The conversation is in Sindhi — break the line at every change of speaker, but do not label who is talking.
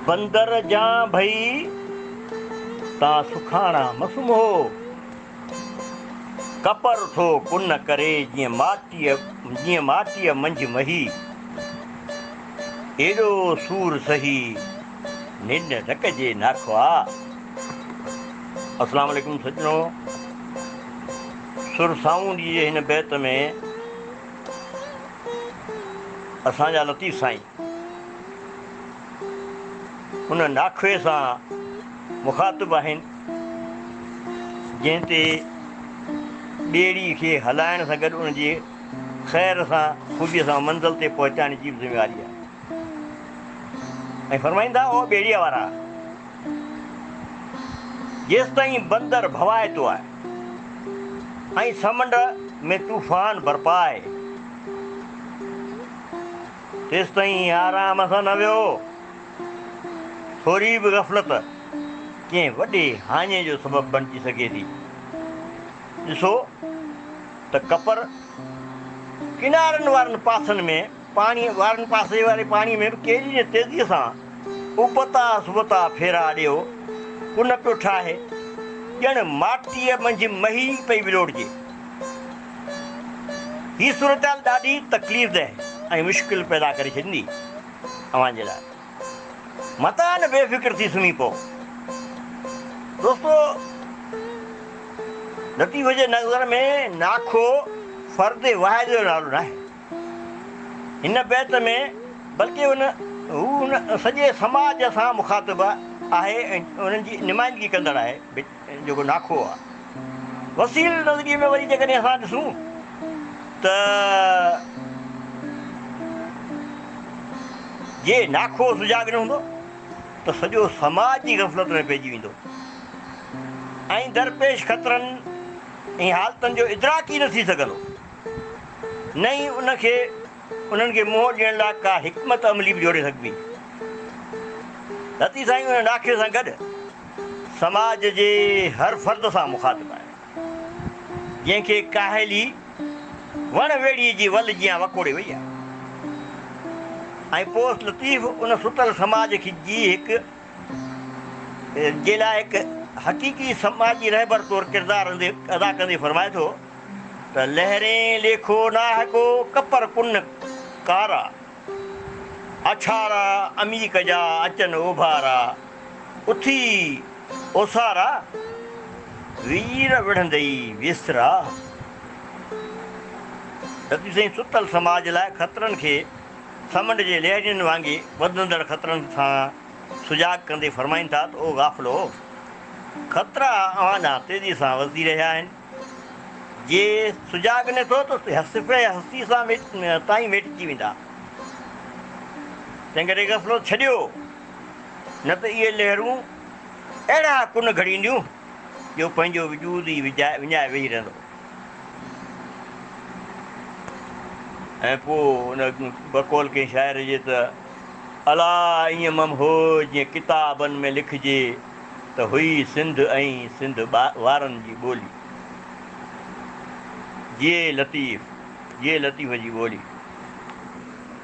بندر جان ڀئي تا سکاڻا م سمهو، ڪپر ٿو ڪن ڪري جيئن ماٽيء منجهه مهي، ايڏو سور سهي ننڊ نه ڪجي ناکئا. السلام عليڪم سڄڻو. سر سائون جي جي هن بيت ۾ اسان جا لطيف سائين ان ناخوي سان مخاطب آهن جنهن تي ٻيڙي کي هلائڻ سان گڏ ان جي خير سان خوبي سان منزل تي پهچائڻ جي به ذميواري آهي ۽ فرمائين ٿا او ٻيڙيء وارا جيستائين بندر ڀوائتو آهي ۽ سمنڊ ۾ طوفان برپا آهي، تيستائين آرام سان نه ويهو، ٿوري به غفلت ڪنهن وڏي هاڃي جو سبب بڻجي سگهي ٿي، ڏسو ته ڪپر ڪنارن وارن پاسن ۾. پاڻي وارن پاسي واري پاڻي ۾ به ڪيري نه تيزيء سان ابتا سبتا ڦيرا ڏيو، ڪن پيو ٺاهي، ڄڻ ماٽيء منجهه مهي پئي ولوڙجي. هي صورتحال ڏاڍي تڪليف ده ۽ مشڪل پيدا ڪري ڇڏيندي اوهان جي لاء. متان بي فڪر ٿي سمهي پئو. دوستو! لطيف جي نظر ۾ ناکو فرد واحد جو نالو ناهي. هن بيت ۾ بلڪه هن هو ان سڄي سماج سان مخاطب آهي ۽ انهن جي نمائندگي ڪندڙ آهي جيڪو ناکئو آهي. وسيل نظريي ۾ وري جيڪڏهن اسان ڏسون ته جي ناکئو سجاڳ نه هوندو ته سڄو سماج جي غفلت ۾ پئجي ويندو ۽ درپيش خطرن ۽ حالتن جو ادراڪ ئي نه ٿي سگهندو. نه ئي ان کي انهن کي منهن ڏيڻ لاء ڪا حڪمت عملي به جوڙي سگهبي. رتي سائين ان ڏاکي سان گڏ سماج جي هر فرد سان مخاطب آهي، جنهن کي ڪاهلي وڻ ويڙهي جي ول جيان وڪوڙي وئي آهي ۽ پوس لطيف ان ستل سماج کي جي هڪ جي لاء هڪ حقيقي سماجي رهبر طور ڪردار ادا ڪندي فرمائي ٿو. ته لهرين ليکو ناهڪو ڪپر ڪن ڪارا، اڇارا عميق جا اچن اوڀارا، اٿي اوسارا، وير وڙهندئي ويسرا. دٻي سائين ستل سماج لاء خطرن کي سمنڊ جي لهرين وانگي وڌندڙ خطرن سان سجاڳ ڪندي فرمائين ٿا ته او غافلو! خطرا اوهان ڏانهن تيزي سان وڌي رهيا آهن. جي سجاڳ نه ٿيو ته صفحي هستي سان تائين ميٽجي ويندا. تنهن ڪري غفلت ڇڏيو، نه ته اهي لهرون اهڙا ڪن گهڙينديون، جو پنهنجو وجود ئي وڃائي ويهي رهندو ۽ پوء ان بقول ڪنهن شاعر جي ته الا ائين مم هو جيئن ڪتابن ۾ لکجي. ته هئي سنڌ ۽ سنڌ وارن جي ٻولي. جيئي لطيف جيئي لطيف جي ٻولي.